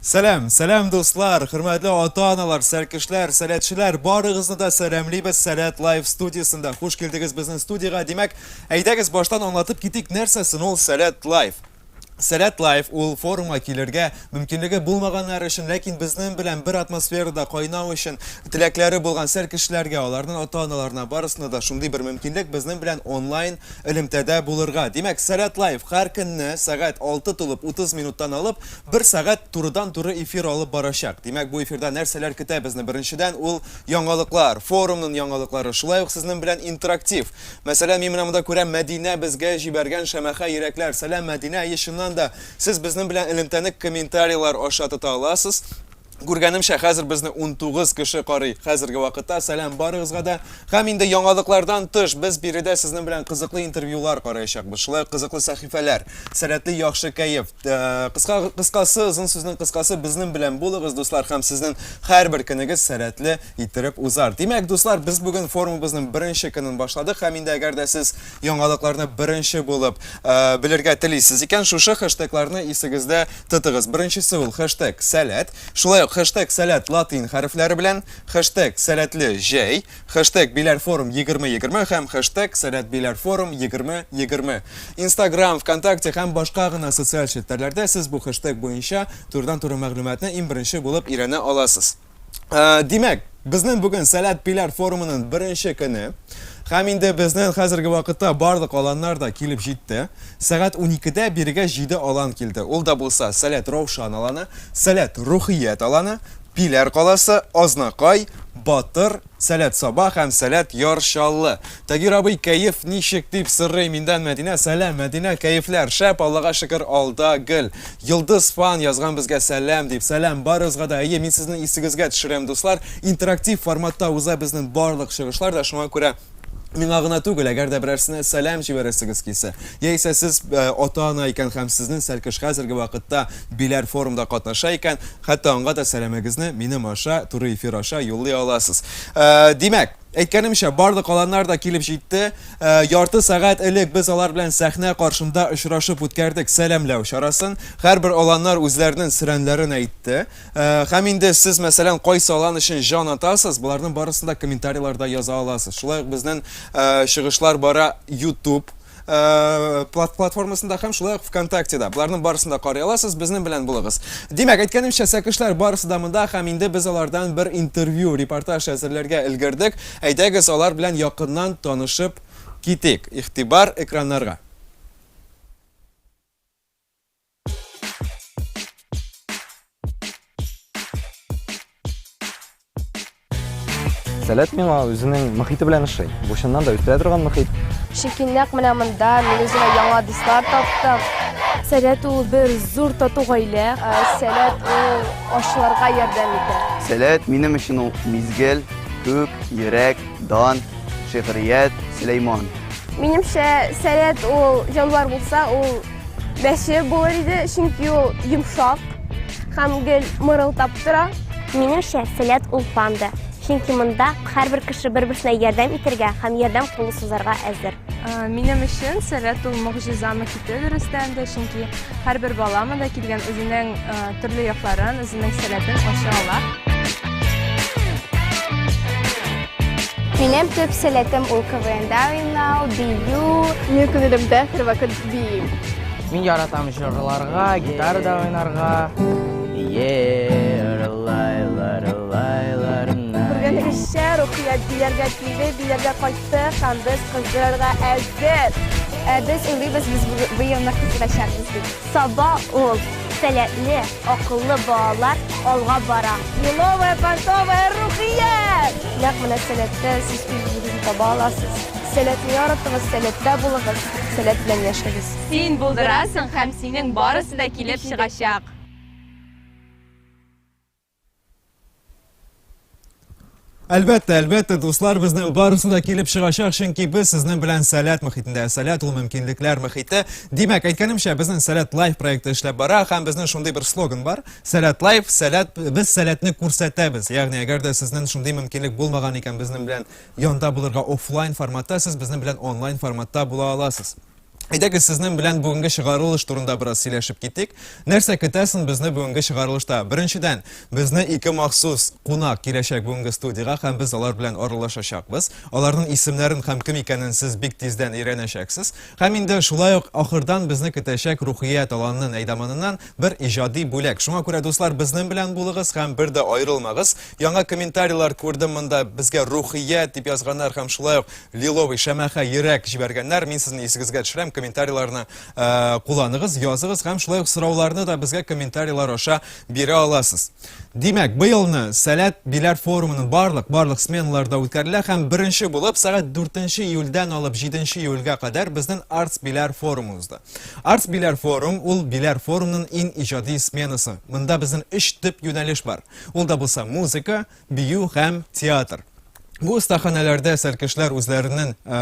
Сәлам, сәлам дуслар, хөрмәтле ата-аналар, сәркешләр, сәләтчеләр, барыгызны да сәламлибез Сәләт Лайв студиясендә. Хуш килдегез безнең студиягә. Димәк, әйдәгез баштан аңлатып китик, нәрсә сон ул Сәләт Лайв? Сәләт Лайф ул форумга килергә мөмкинлеге булмаганнар өчен, ләкин безнең белән бер атмосферада кайнау өчен теләкләре булган сәр кешеләргә, аларның ата-аналарына, барысына да шундый бер мөмкинлек, безнең белән онлайн элемтәдә булырга. Димәк, Сәләт Лайф һәр көнне сәгать алты тулып утыз минуттан алып, бер сәгать турыдан-туры эфир алып барачак. Димәк, бу эфирда нәрсәләр көтә безне? Беренчедән, ул яңалыклар, форумның яңалыклары, шулай ук сезнең белән интерактив. Мәсәлән, мин менә монда күрәм, Мәдинә безгә җибәргән шәмәхә йөрәкләр. Сәлам, Мәдинә! Әйе, чыннан да, сез безнең белән элемтәне комментарийлар аша тота аласыз. Күргәнемчә, хәзер безне унтугыз кеше карый, хәзерге вакытта. Сәлам барыгызга да! Һәм инде яңалыклардан тыш, без биредә сезнең белән кызыклы интервьюлар караячакбыз, шулай ук кызыклы сәхифәләр, сәләтле яхшы кәеф. Кыска, кыскасы, озын сүзнең кыскасы, безнең белән булыгыз, дуслар, һәм сезнең һәрбер көнегез сәләтле, иттереп узар. Димәк, дуслар, без бүген форумыбызның беренче көнен башладык һәм инде әгәр дә сез яңалыкларны беренче булып э, белергә телисез икән, шушы хэштегларны исегездә тотыгыз. Беренчесе ул хэштег сәләт. Шулай ук хэштег сәләт латин хәрефләре белән, хэштег сәләтле җәй, хэштег биләр форум 2020 һәм хэштег сәләт биләр форум 2020. Инстаграм, ВКонтакте һәм башка гына социаль челтәрләрдә сез бу хэштег буенча турыдан-туры мәгълүматны иң беренче булып өйрәнә аласыз. Э, димәк, безнең бүген Сәләт Пиләр форумының беренче көне. Һәм инде безнең хәзерге вакытта барлык аланнар да килеп җитте. Сәгать 12-дә бирегә 7 алан килде. Ул да булса Сәләт Раушан аланы, Сәләт Рухият аланы, Пиләр каласы, Азнакай, Батыр, Сәләт Саба һәм Сәләт Яр Чаллы. Тагир абый кәеф ничек дип сорый миндән Мәдинә. Сәлам, Мәдинә, кәефләр шәп, Аллага шөкер, алда гөл. Йолдыз фан язган безгә сәлам дип. Сәлам барыгызга да. Әйе, мин сезнең исегезгә төшерәм, дуслар, интерактив форматта уза безнең барлык чыгышлар да, шуңа күрә миңа гына түгел, әгәр дә берәрсенә сәлам җибәрәсегез килсә, яисә сез ата-ана икән һәм сезнең Сәлкеш хәзерге вакытта Биләр форумда катнаша икән, Хәтта аңа да сәламегезне минем аша, туры эфир аша юллый аласыз. Ә, димәк, әйткәнемчә, барлык каланнар да килеп җитте. Ә, ярты сәгать элек без алар белән сәхнә каршында очрашып үткәрдек сәламләү чарасын. Һәрбер аланнар үзләренең сөрәнләрен әйтте. Ә, һәм инде сез, мәсәлән, кайсы алан өчен җан атасыз, боларның барысын да комментарийларда яза аласыз. Шулай ук безнең ә, чыгышлар бара YouTube платформасында һәм шулай ук ВКонтактеда. Боларның барысын да карый аласыз, безнең белән булыгыз. Димәк, әйткәнемчә, сәкешләр барысы да монда һәм инде без алардан бер интервью, репортаж әзерләргә өлгердек. Әйдәгез, алар белән якыннан танышып китик. Игътибар экраннарга. Сәләт миңа үзенең мөхите белән ошый. Бу чыннан да үстерә торган мөхит. Чөнки нәкъ менә монда мин үземә яңа дуслар таптым. Сәләт ул бер зур тату гаилә. Ә, сәләт ул ашларга ярдәм итә. Сәләт минем өчен ул мизгел, күк, йөрәк, дан, шигърият, Сөләйман. Минемчә, сәләт ул җанвар булса, ул Мәче булыр иде, чөнки ул йомшак һәм гел мырылдап тора. Минемчә, сәләт ул панда, чөнки монда һәрбер кеше бер-берсенә ярдәм итәргә һәм ярдәм кулы сузарга әзер. Ә, Минем өчен сәләт ул могҗиза мөхите дөрестән дә, чөнки һәрбер бала монда килгән үзенең ә, төрле якларын, үзенең сәләтен ача ала. Минем төп сәләтем ул КВНда уйнау, бию. Минем күңелемдә һәрвакыт Бик. Мин яратам җырларга, гитарада уйнарга. Күргәнегезчә, Рухият бияргә килде, бияргә кайтты һәм без кыздырырга әзер. Ә без уйлыйбыз, без быелны кыздырачакбыз дип. Саба ул, сәләтле, акыллы балалар алга бара. Еловая, понтовая, Рухият! Нәкъ менә сәләттә сез үзегезне таба аласыз. Сәләтне яратыгыз, сәләттә булыгыз. Сәләт белән яшәгез. Син булдырасың һәм синең барысы да килеп чыгачак. Әлбәттә, әлбәттә, дуслар, безнең барысы да килеп чыгачак, чөнки без сезнең белән сәләт мөхитендә. Сәләт ул мөмкинлекләр мөхите. Димәк, әйткәнемчә, безнең Сәләт Лайф проекты эшләп бара һәм безнең шундый бер слоган бар. Сәләт Лайф, сәләт, без сәләтне күрсәтәбез. Ягъни, әгәр дә сезнең шундый мөмкинлек булмаган икән, безнең белән Янда булырга офлайн форматта, сез безнең белән онлайн форматта була аласыз. Әйдәгез, сезнең белән бүгенге чыгарылыш турында бераз сөйләшеп китик. Нәрсә көтәсен безне бүгенге чыгарылышта? Беренчедән, безне ике махсус кунак киләчәк бүгенге студиягә һәм без алар белән аралашачакбыз. Аларның исемнәрен һәм кем икәнен сез бик тиздән өйрәнәчәксез. Һәм инде шулай ук ахырдан безне көтәчәк Рухия таланын әйдаманыннан бер иҗади бүләк. Шуңа күрә, дуслар, безнең белән булыгыз һәм бер дә аерылмагыз. Яңа комментарийлар күрдем монда. Безгә рухия дип язганнар һәм шулай ук лиловый шәмәхә йөрәк җибәргәннәр. Мин сезне исегезгә төшерәм, комментарийларны э, кулланыгыз, языгыз һәм шулай ук сорауларны да безгә комментарийлар аша бирә аласыз. Димәк, быелны Сәләт биләр форумының барлык барлык сменаларда үткәрелә һәм беренче булып сәгать 4 июльдән алып 7 июльгә кадәр безнең Артс биләр форумы узды. Артс биләр форум ул биләр форумның иң иҗади сменасы. Монда безнең 3 төп юнәлеш бар. Ул да булса музыка, бию һәм театр. Бу остаханәләрдә сәркешләр үзләренең э,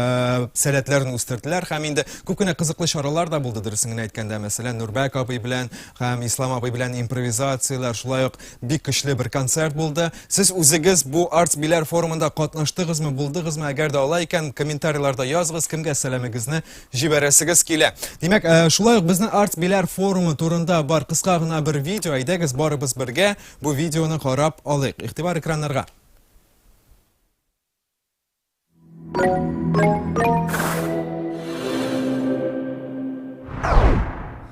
сәләтләрен үстерделәр һәм инде күп кенә кызыклы чаралар да булды дөресен генә әйткәндә. Мәсәлән, Нурбәк абый белән һәм Ислам абый белән импровизацияләр, шулай ук бик көчле бер концерт булды. Сез үзегез бу Arts Биләр форумында катнаштыгызмы, булдыгызмы? Әгәр дә алай икән, комментарийларда языгыз, кемгә сәламегезне Җибәрәсегез килә. Димәк, э, шулай ук безнең артбиләр форумы турында бар кыска гына бер видео. Әйдәгез, барыбыз бергә бу видеоны карап алыйк. Игътибар экраннарга.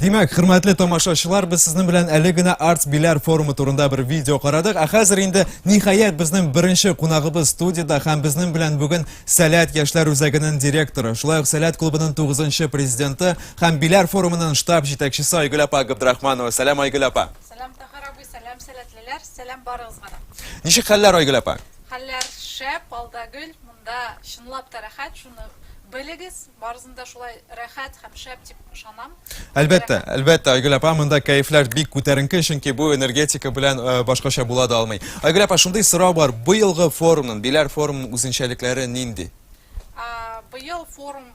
Димәк, хөрмәтле тамашачылар, без сезнең белән әле генә Арт Биләр форумы турында бер видео карадык. Ә хәзер инде ниһаять безнең беренче кунагыбыз студияда һәм безнең белән бүген Сәләт яшьләр үзәгенең директоры, шулай ук Сәләт клубының 9 президенты һәм Биләр форумының штаб җитәкчесе Айгөл апа Габдрахманова. Сәлам Айгөл апа. Сәлам Тахар абый, сәлам Сәләтле. Әниләр, сәлам барыгызга да. Ничек хәлләр, Айгөл апа? Хәлләр шәп, алда гөл, монда чынлап та рәхәт, шуны белегез, барысын да шулай рәхәт һәм шәп дип ышанам. Әлбәттә, әлбәттә, Айгөл апа, монда кәефләр бик күтәренке, чөнки бу энергетика белән э, башкача була да алмый. Айгөл апа, шундый сорау бар, быелгы форумның, Биләр форумның үзенчәлекләре нинди? Быел форум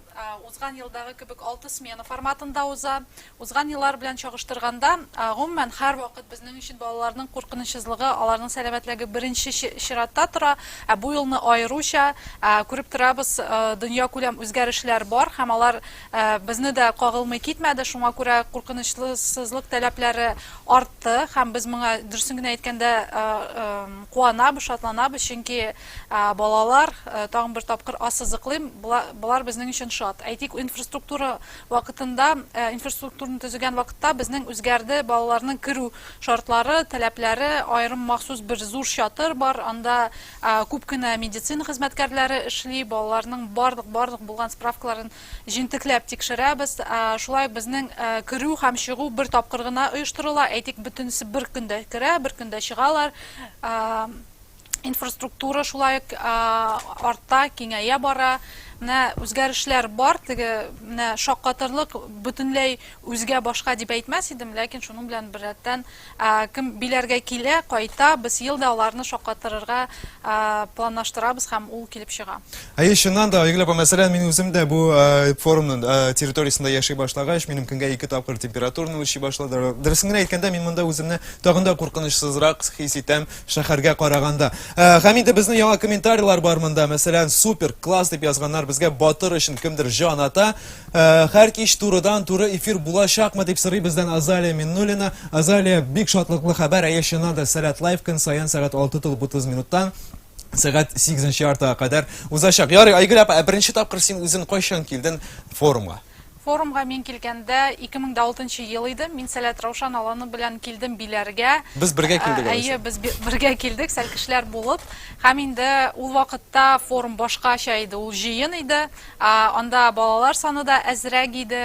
узган елдагы кебек алты смена форматында уза. Узган еллар белән чагыштырганда, гомумән, һәрвакыт безнең өчен балаларның куркынычсызлыгы, аларның сәламәтлеге беренче чиратта тора. Ә бу елны аеруча, күреп торабыз, дөньякүләм үзгәрешләр бар һәм алар безне дә кагылмый китмәде. Шуңа күрә куркынычлысызлык тәләпләре артты һәм без моңа, дөресен генә әйткәндә, куанабыз, шатланабыз, чөнки балалар, тагын бер тапкыр ассызыклыйм, болар безнең өчен шат. Әйтик, инфраструктура Вакытында инфраструктураны төзегән вакытта безнең үзгәрде, балаларның керү шартлары, таләпләре, аерым махсус бер зур чатыр бар, анда күп кенә медицина хезмәткәрләре эшли, балаларның барлык барлык булган справкаларын җентекләп тикшерәбез. Шулай ук безнең керү һәм чыгу бер тапкыр гына оештырыла, әйтик, бөтенесе бер көндә керә, бер көндә чыгалар. инфраструктура шулай ук арта, киңәя бара. Менә үзгәрешләр бар, теге менә шаккатырлык бөтенләй үзгә башка дип әйтмәс идем, ләкин шуның белән беррәттән кем биләргә килә, кайта, без ел да аларны шаккатырырга планлаштырабыз һәм ул килеп чыга. Әйе, чыннан да, Айгөл апа, мәсәлән, мин үзем дә бу форумның территориясендә яши башлагач, минем көнгә ике тапкыр температураны үлчи башладылар. Дөресен генә әйткәндә, мин монда үземне тагын да куркынычсызрак хис итәм. Шәхәргә караганда. Э, һәм инде безнең яңа комментарийлар бар монда. Мәсәлән, супер, класс дип язганнар безгә батыр өчен кемдер җан ата. Э, һәр кич турыдан туры эфир булачакмы дип сорый бездән Азалия Миннулина. Азалия бик шатлыклы хәбәр, әйе чыннан да Сәләт лайф көн саен сәгать 6 тулып 30 минуттан сәгать 8 яртыга кадәр узачак. Ярый, Айгөл апа, ә беренче тапкыр син үзен кайчан килден форумга? Форумга мин килгәндә, 2006 ел иде, мин Сәләт Раушан Аланы белән килдем биләргә. Без бергә килдек, алайса. Әйе, без бергә килдек, сәлкешләр булып. Һәм инде ул вакытта форум башкача иде, ул җыен иде. Анда балалар саны да әзрәк иде,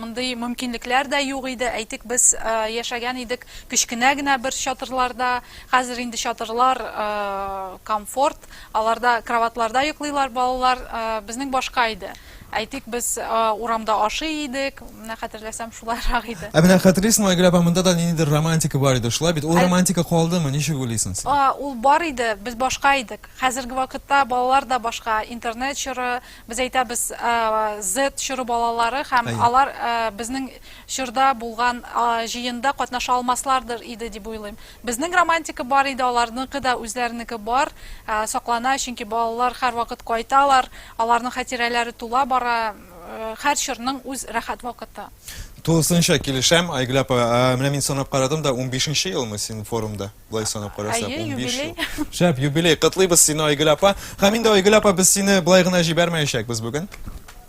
мондый мөмкинлекләр дә юк иде. Әйтик, без яшәгән идек кечкенә генә бер чатырларда. Хәзер инде чатырлар комфорт, аларда кроватьларда йоклыйлар балалар. Безнең башка иде. Әйтик, без урамда ашый идек, менә хәтерләсәм, шулайрак иде. Ә менә хәтерлисеңме, Айгөл апа, монда да ниндидер романтика бар иде, шулай бит? Ул романтика калдымы, ничек уйлыйсың син? Ул бар иде, без башка идек. Хәзерге вакытта балалар да башка, интернет чоры, без әйтәбез, Z чоры балалары, һәм алар безнең чорда булган җыенда катнаша алмаслардыр иде дип уйлыйм. Безнең романтика бар иде, аларныкы да үзләренеке бар, саклана, чөнки балалар һәрвакыт кайталар, аларның хәтирәләре тула бара, һәр чорның үз рәхәт вакыты. Тулысынча килешәм, Айгөл апа. Менә мин санап карадым да, унбишенче елмы син форумда, болай санап карасак, унбиш ел. Әйе, юбилей. Шәп, юбилей. Котлыйбыз сине, Айгөл апа. Һәм инде, Айгөл апа, без сине болай гына җибәрмәячәкбез бүген.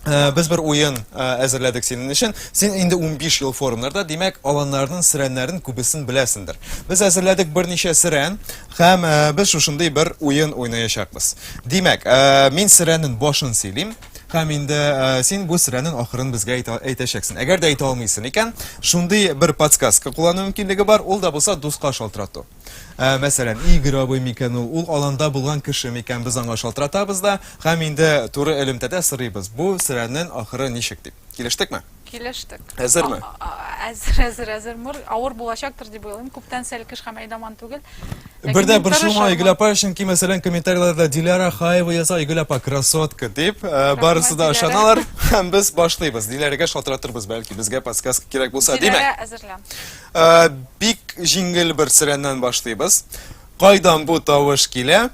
Э, без бер уен э, әзерләдек синең өчен. Син инде 15 ел форумнарда, димәк, аланнарның сирәннәрен күбесен беләсендер. Без әзерләдек берничә сирән һәм э, без шушындый бер уен уйнаячакбыз. Димәк, мин сирәннең башын сөйлим һәм инде син бу сирәннең ахырын безгә әйтәчәксең. Әгәр дә әйтә алмыйсың икән, шундый бер подсказка куллану мөмкинлеге бар, ул да булса дуска шалтырату. Ә, мәсәлән, Игорь абый микән ул? Ул аланда булган кеше микән? Без аңа шалтыратабыз да һәм инде туры элемтәдә сорыйбыз, бу серәнен ахыры ничек дип. Килештекме? Килештек. Әзерме? Әзер, әзер, әзер. Мөр, авыр булачактыр дип уйлыйм. Күптән сәлкеш һәм әйдаман түгел. Бер дә борчылма, Айгөл апа, чөнки, мәсәлән, комментарийларда Диляра Хаева яза, Айгөл апа, красотка, дип, э, барысы да ышаналар. Һәм без башлыйбыз. Диләрәгә шалтыратырбыз, бәлки, безгә подсказка кирәк булса, димәк. Диләрә әзерлән. Э, бик җиңел бер сөрәннән башлыйбыз. Кайдан бу тавыш килә?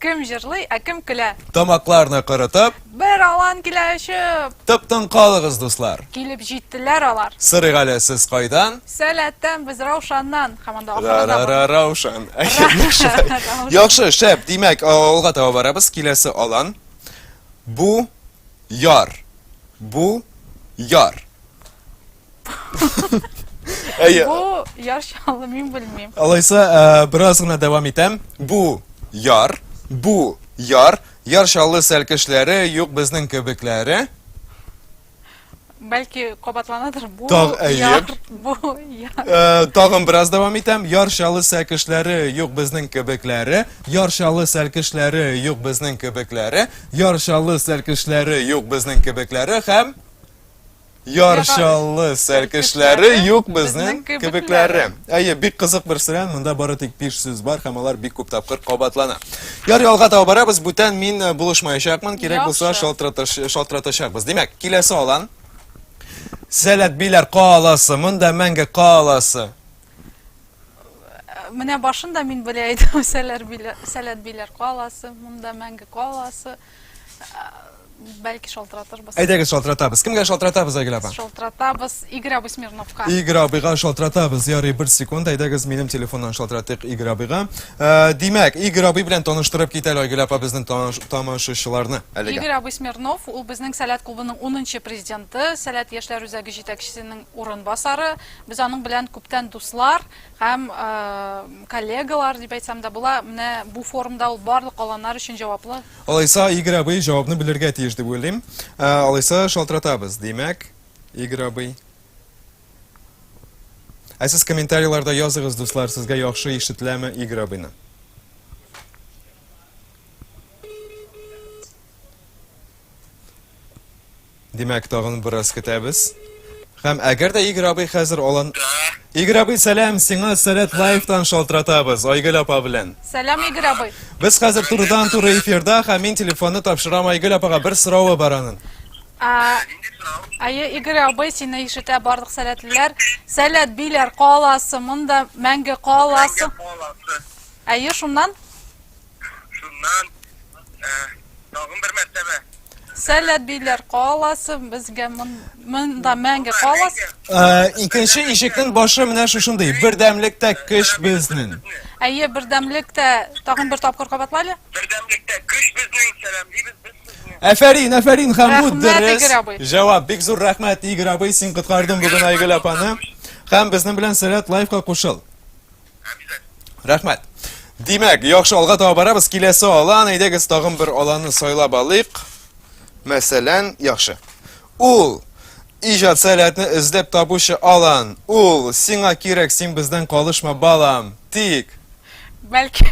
Кем җырлый, ә кем көлә? Тамакларны кырытып. Бер алан килә очып. Тыптың калыгыз, дуслар. Килеп җиттеләр алар. Сырык әле сез кайдан? Сәләттән без Раушаннан. Һәм анда ахырында. Раушан. Яхшы, шәп. Димәк, алга таба барабыз. Киләсе алан. Бу яр. Бу яр. Әйе. Бу яр чаллы мин белмим. Алайса, э, бераз гына дәвам итәм. Бу яр, бу яр, яр чаллы сәлкешләре, юк безнең кебекләре. Бәлки кабатланадыр бу Таг- әйе. яр, бу яр. Э, Тагын бераз дәвам итәм. Яр чаллы сәлкешләре, юк безнең кебекләре. Яр чаллы сәлкешләре, юк безнең кебекләре. Яр чаллы сәлкешләре, юк безнең кебекләре һәм Яр чаллы сәркешләре юк безнең кебекләре. Әйе, бик кызык бер сөрән, монда бары тик биш сүз бар һәм алар бик күп тапкыр кабатлана. Яр ялга таба барабыз, бүтән мин э, булышмаячакмын, кирәк булса шалтыратачакбыз. Димәк, киләсе алан. Сәләт биләр каласы, монда мәңге каласы. Менә башында мин белә идем, сәләт биләр каласы, монда мәңге каласы. Бәлки шалтыратырбыз. Әйдәгез шалтыратабыз. Кемгә шалтыратабыз, Айгөл апа? Шалтыратабыз Игорь абый Смирновка. Игорь абыйга шалтыратабыз. Ярый, бер секунд. Әйдәгез минем телефоннан шалтыратыйк Игорь абыйга. Ә, димәк, Игорь абый белән таныштырып кит әле Айгөл апа безнең тамашачыларны әлегә. Игорь абый Смирнов, ул безнең Сәләт клубының 10 президенты, Сәләт яшьләр үзәге җитәкчесенең урынбасары. Без аның белән күптән дуслар. Һәм коллегалар дип әйтсәм дә була, менә бу форумда ул барлык аланнар өчен җаваплы. Алайса, Игорь абый җавапны белергә тиеш дип уйлыйм. Алайса, шалтыратабыз. Димәк, Игорь абый. Ә сез комментарийларда языгыз, дуслар, сезгә яхшы ишетеләме Игорь абыйны? Димәк, тагын бераз көтәбез. Һәм әгәр дә Игорь абый хәзер алан... Игорь абый, сәлам, сиңа Сәләт Лайфтан шалтыратабыз, Айгөл апа белән. Сәлам, Игорь абый. Без хәзер турыдан туры эфирда, һәм мин телефонны тапшырам Айгөл апага, бер соравы бар аның. Әйе, Игорь абый, сине ишетә барлык сәләтлеләр. Сәләт Биләр каласы, монда мәңге каласы. Мәңге каласы. Әйе, шуннан? Шуннан тагын бер мәртәбә Сәләт биләр каласы безгә монда мәңге калас. Икенче ишекнең башы менә шушындый. Бердәмлектә көч безнең. Әйе, бердәмлектә тагын бер тапкыр кабатлайлы. Бердәмлектә көч безнең, сәламлибез без сезне. Әфәрин, әфәрин, һәм бу дөрес. Җавап, бик зур рәхмәт, Игорь абый, син коткардың бүген Айгөл апаны. Һәм безнең белән Сәләт лайфка кушыл. Рәхмәт. Димәк, яхшы алга таба барабыз. Киләсе алан, әйдәгез тагын бер аланны сайлап алыйк. Мәсәлән, яхшы. Ул иҗат сәләтне эзләп табучы алан. Ул сиңа кирәк, син бездән калышма, балам. Тик Бәлки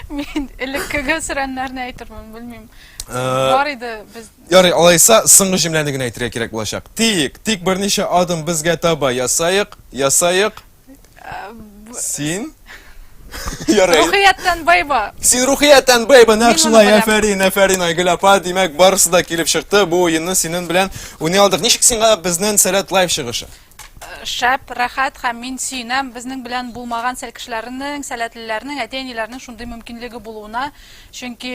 мин элеккеге сөрәннәрне әйтермен, белмим. Э, Бар иде без. Ярый, алайса соңгы җөмләне генә әйтергә кирәк булачак. Тик, тик берничә адым безгә таба ясаек, ясаек. Син? Ярый. Рухияттән байба. Син рухияттән байба, нәкъ шулай. Әфәрин, әфәрин, Айгөл апа. Димәк, барысы да килеп чыкты. Бу уенны синен белән уйный алдык. Ничек сиңа безнен Сәләт лайв чыгышы? шәп, рәхәт һәм мин сөенәм безнең белән булмаган сәл кешеләрнең, сәләтлеләрнең, әти-әниләрнең шундый мөмкинлеге булуына. Чөнки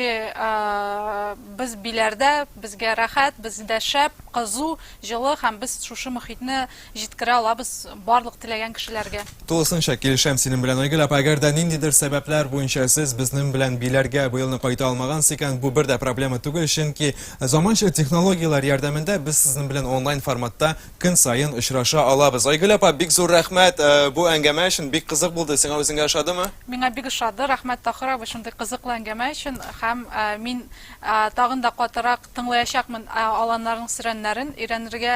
без биләрдә, безгә рәхәт, бездә шәп, кызу, җылы һәм без шушы мөхитне Җиткерә алабыз барлык теләгән кешеләргә. Тулысынча килешәм синең белән, Айгөл апа, әгәр дә ниндидер сәбәпләр буенча сез безнең белән биләргә быелны кайта алмагансыз икән, бу бер дә проблема түгел, чөнки заманча технологияләр ярдәмендә без сезнең белән онлайн форматта көн саен очраша алабыз. Айгөл апа, бик зур рәхмәт э, бу әңгәмә өчен, бик кызык булды, сиңа үзеңә ошадымы? Миңа бик ошады, рәхмәт Тахир абый шундый кызыклы әңгәмә өчен һәм э, мин э, тагын да катырак тыңлаячакмын э, аланнарның сөрәннәрен өйрәнергә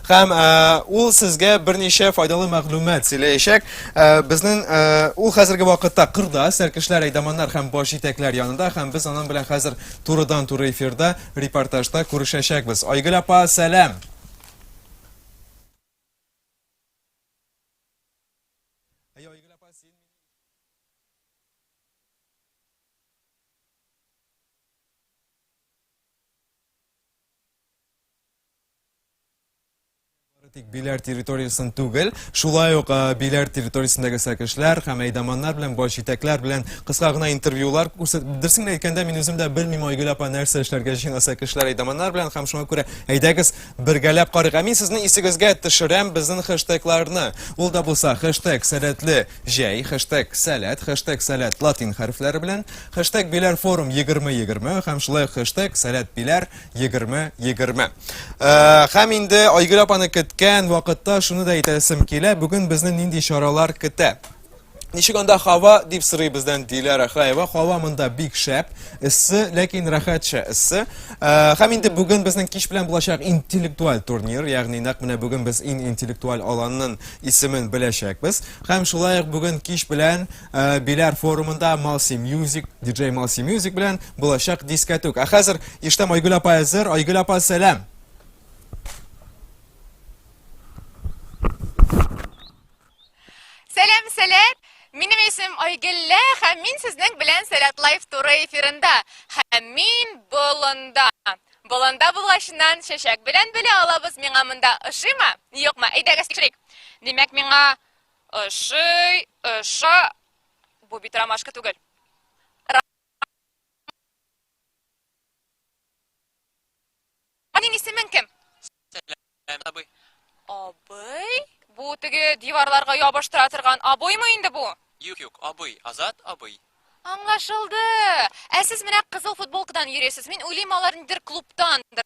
Һәм э, ул сезгә берничә файдалы мәгълүмат сөйләячәк. Э, безнең э, ул хәзерге вакытта кырда, сәркешләр, әйдаманнар һәм баш җитәкләр янында һәм без аның белән хәзер турыдан туры эфирда репортажда күрешәчәкбез. Айгөл апа, сәлам. тик Биләр территориясен түгел, шулай ук Биләр территориясендәге сәкешләр һәм әйдаманнар белән, баш җитәкләр белән кыска гына интервьюлар күрсәт. Дөресен әйткәндә, мин үзем дә белмим, Айгөл апа нәрсә эшләргә җыена сәкешләр, әйдаманнар белән һәм шуңа күрә әйдәгез бергәләп карыйк. Ә мин сезнең исегезгә төшерәм безнең хэштегларны. Ул да булса хэштег сәләтле җәй, хэштег сәләт, хэштег сәләт латин хәрефләре белән, хэштег Биләр форум 2020 һәм шулай ук хэштег сәләт Биләр Егерме, егерме. Э, Хәм инде Айгөл апаны көткән вакытта шуны да әйтәсем килә, бүген безне нинди чаралар көтә. Ничек анда хава дип сырый бездән Диләрә Хаева. Хава монда бик шәп, эссе, ләкин рәхәтчә эссе. Э, Хәм инде бүген безнең кич белән булачак интеллектуаль турнир, ягъни нәкъ менә бүген без ин интеллектуаль аланның исемен беләчәкбез. Хәм шулай ук бүген кич белән Ә, Биләр форумында Малси Мьюзик, диджей Малси Мьюзик белән булачак дискәтүк. Ә хәзер иштәм Айгөл апа әзер. Айгөл апа, сәлам. Сәлам, сәлам! Минем исем Айгеллә һәм мин сезнең белән Сәләт Лайф туры эфирында. Һәм мин болында. Болында булгачыннан чәчәк белән белә алабыз миңа монда ошыймы? Юкмы? Әйдәгез тикшерик. Димәк, миңа Ошый, оша. Бу бит ромашка түгел. Синең исемең кем? Сәлам, абый. Абый? Бу теге диварларга ябыштыра торган абыймы инде бу? Юк, юк, абый, Азат абый. Аңлашылды. Ә сез менә кызыл футболкадан йөрисез. Мин уйлыйм, алар нидер клубтандыр.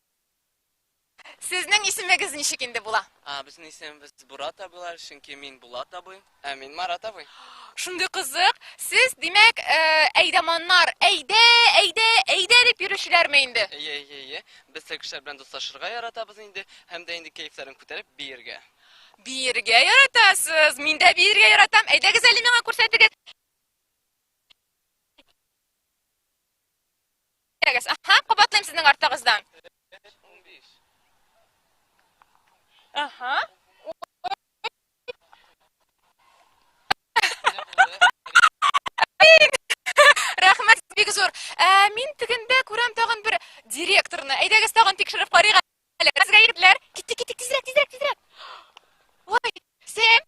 Сезнең исемегез ничек инде була? А, безнең исемебез Бурат абыйлар, чөнки мин Булат абый, ә мин Марат абый. Шундый кызык. Сез, димәк, э, әйдаманнар, әйдә, әйдә, әйдә дип йөрүчеләрме инде? Әйе, әйе, әйе. Без теге кешеләр белән дуслашырга яратабыз инде, һәм дә инде кәефләрен күтәреп биергә. Биергә яратасыз. Мин дә биергә яратам. Әйдәгез әле миңа күрсәтегез. Әгәс. Аһа, кабатлыйм сезнең артыгыздан. Аһа. Рәхмәт бик зур. Ә мин тегендә күрәм тагын бер директорны. Әйдәгез тагын тикшереп карыйк әле. Сезгә егетләр, киттек, киттек, тизрәк, тизрәк, тизрәк. Ой, Сэм,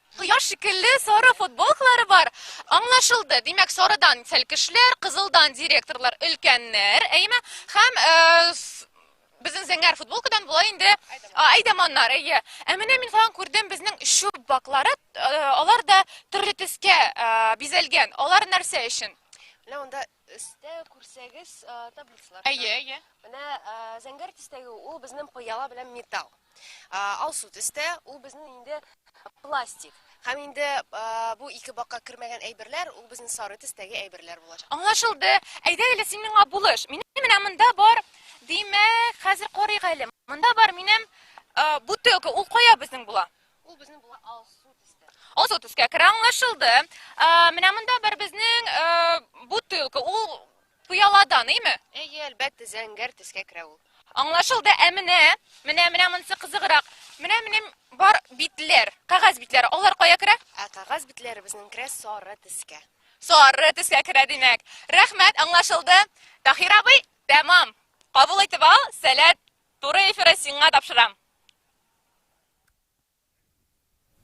Кояш шикелле сары футболкалары бар. Аңлашылды. Димәк, сарыдан сәлкешләр, кызылдан директорлар, өлкәннәр, әйеме? Һәм э, с- безнең зәңгәр футболкадан болай инде а, әйдәманнар, әйе. Ә менә мин каян күрдем, безнең чүп баклары, э, алар да төрле төскә э, бизәлгән. Алар нәрсә өчен? Менә монда Өстә күрсәгез таблицалар. Әйе, әйе. Менә зәңгәр төстәге ул безнең пыяла белән металл. Алсу төстә ул безнең инде пластик. Һәм инде бу ике бакка кермәгән әйберләр ул безнең сары төстәге әйберләр булачак. Аңлашылды. Әйдә әле син миңа булыш. Минем менә монда бар. Димәк, хәзер карыйк әле. Монда бар минем бутылка. Ул кая безнең була? Ул безнең була Алсу төскә. Алсу төскә керә аңлашылды. Ә, менә монда бер безнең ә, бутылка. Ул пыяладан, әйме? Әйе, әлбәттә, зәңгәр төскә керә ул. Аңлашылды. Ә менә, менә менә монысы кызыграк. Менә минем бар битләр, кагаз битләре. Алар кая керә? Ә кагаз битләре безнең керә сары төскә. Сары төскә керә димәк. Рәхмәт, аңлашылды. Тахир абый, тәмам. Кабул итеп ал, сәләт. Туры эфиры сиңа тапшырам.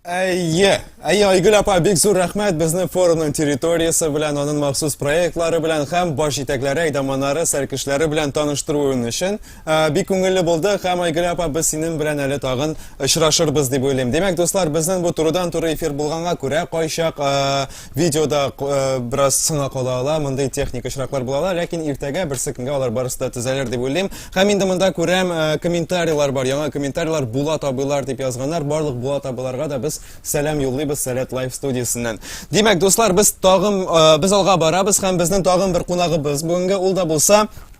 Әйе, әйе, Айгөл апа, бик зур рәхмәт безнең форумның территориясе белән, аның махсус проектлары белән һәм баш җитәкләре, әйдаманнары, сәркешләре белән таныштыруын өчен. Ә, бик күңелле булды һәм Айгөл апа, без синең белән әле тагын очрашырбыз дип уйлыйм. Димәк, дуслар, безнең бу турыдан-туры эфир булганга күрә, кайчак ә, Видеода э, бераз сына кала ала, мондый техник очраклар була ала, ләкин иртәгә берсе көнгә алар барысы да төзәлер дип уйлыйм. Һәм инде монда күрәм, э, комментарийлар бар, яңа комментарийлар була табылар дип язганнар. Барлык була табыларга да без сәлам юллыйбыз Сәләт Лайф студиясеннән. Димәк, дуслар, без тагын э, без алга барабыз һәм безнең тагын бер кунагыбыз. Бүгенге ул да булса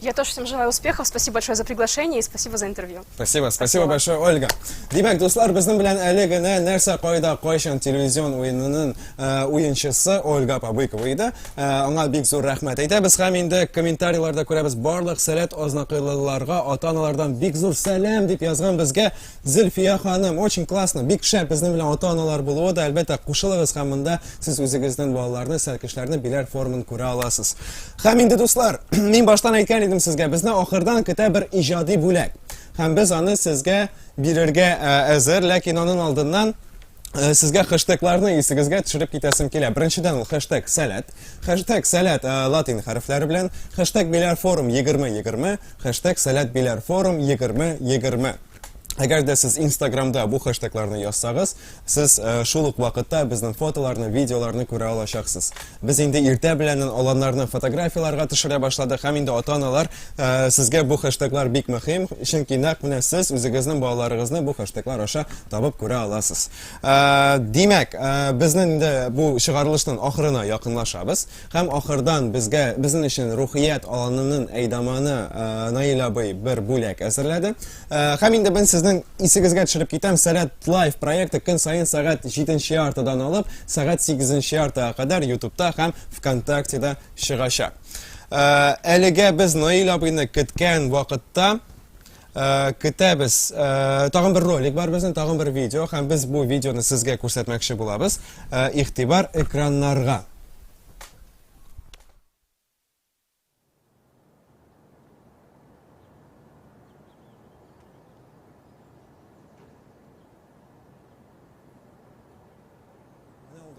Я тоже всем желаю успехов. Спасибо большое за приглашение и спасибо за интервью. Спасибо, спасибо, большое, Ольга. Димәк, дуслар, безнең белән әле генә нәрсә кайда кайчан телевизион уенының э, уенчысы Ольга Пабыкова иде. Э, аңа бик зур рәхмәт әйтәбез һәм инде комментарийларда күрәбез барлык сәләт азнакайлыларга, ата-аналардан бик зур сәлам дип язган безгә Зөлфия ханым, очень классно, бик шәп, безнең белән ата-аналар булуы да, әлбәттә, кушылыгыз һәм монда сез үзегезнең балаларны, сәркешләрне биләр формын күрә аласыз. Һәм инде дуслар, мин баштан әйткән идем сезгә, безне ахырдан көтә бер иҗади бүләк. Һәм без аны сезгә бирергә әзер, ләкин аның алдыннан Э, сезгә хэштегларны исегезгә төшереп китәсем килә. Беренчедән ул хэштег сәләт. Хэштег сәләт э, латин хәрефләре белән. Хэштег биләр форум 2020. Хэштег сәләт биләр форум 2020. Әгәр дә сез Инстаграмда бу хэштегларны язсагыз, сез э, шул ук вакытта безнең фотоларны, видеоларны күрә алачаксыз. Без инде иртә беләнен аланнарны фотографияләргә төшерә башладык һәм инде ата-аналар э, сезгә бу хэштеглар бик мөһим, чөнки нәкъ менә сез үзегезнең балаларыгызны бу хэштеглар аша табып күрә аласыз. Э, димәк, э, безнең инде бу чыгарылышның ахырына якынлашабыз һәм ахырдан безгә безнең өчен рухият аланының әйдаманы Наил абый бер бүләк әзерләде. Э, һәм инде мин сезнең исегезгә төшереп китәм, Сәләт Лайф проекты көн саен сәгать 7 яртыдан алып, сәгать 8 яртыга кадәр ютубта һәм ВКонтактеда чыгачак. Э, әлегә без Наил абыйны көткән вакытта э, көтәбез. Тагын бер ролик бар безнең, тагын бер видео, һәм без бу видеоны сезгә күрсәтмәкче булабыз. Игътибар экраннарга.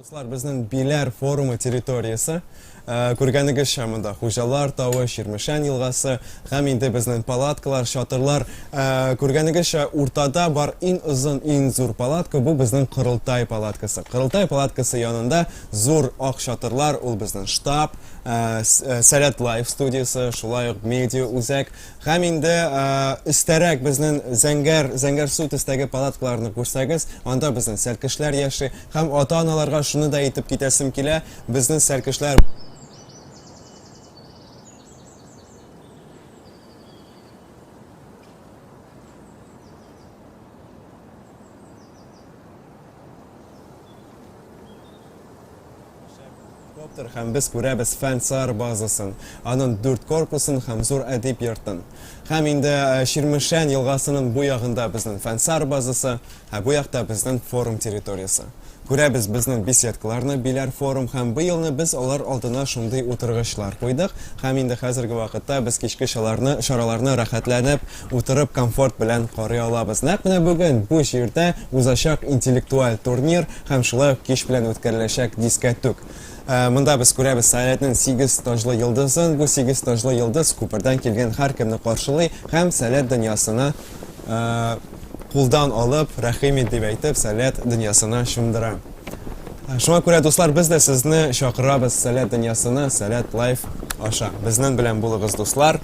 Дуслар, безнең Биләр форумы территориясе, э, күргәнегезчә монда Хуҗалар тавы, Ширмешән елгасы, һәм инде безнең палаткалар, чатырлар, э, күргәнегезчә уртада бар иң озын, иң зур палатка, бу безнең Кырылтай палаткасы. Кырылтай палаткасы янында Зур ак чатырлар ул безнең штаб, э, э, Сәләт Лайф студиясе, шулай ук медиа үзәк һәм инде э, өстәрәк безнең Зәңгәр Зәңгәр су төстәге палаткаларны күрсәгез, анда безнең сәркешләр яши һәм ата-аналарга шуны да әйтеп китәсем килә, безнең сәркешләр Коптер һәм без күрәбез фән сар базасын, аның дүрт корпусын һәм зур әдип йортын. Һәм инде э, Ширмешән елгасының бу ягында безнең фән сар базасы, ә бу якта безнең форум территориясе. Күрәбез безнең беседкаларны, биләр форум һәм бу елны без алар алдына шундый утыргычлар куйдык. Һәм инде хәзерге вакытта без кичке шаларны, шараларны рәхәтләнеп Утырып комфорт белән карый алабыз. Нәкъ менә бүген бу җирдә узачак интеллектуаль турнир һәм шулай ук кич белән үткәреләчәк дискәтүк. Монда без күрәбез Сәләтнең сигез таҗлы йолдызын. Бу сигез таҗлы йолдыз күпердән килгән һәркемне каршылый һәм Сәләт дөньясына кулдан алып, рәхим ит дип әйтеп, Сәләт дөньясына чумдыра. Шуңа күрә, дуслар, без дә сезне чакырабыз Сәләт дөньясына Сәләт Лайф аша. Безнең белән булыгыз, дуслар!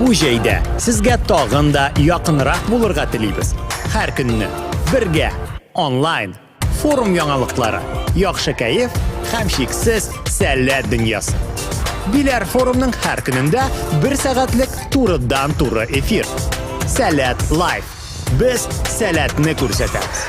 Бу җәйдә сезгә тагын да якынрак булырга телибез. Һәр көнне бергә онлайн форум яңалыклары, яхшы кәеф һәм шиксез сәләт дөньясы. Биләр форумның һәр көнендә бер сәгатьлек турыдан-туры эфир. Сәләт лайф. Без сәләтне күрсәтәбез.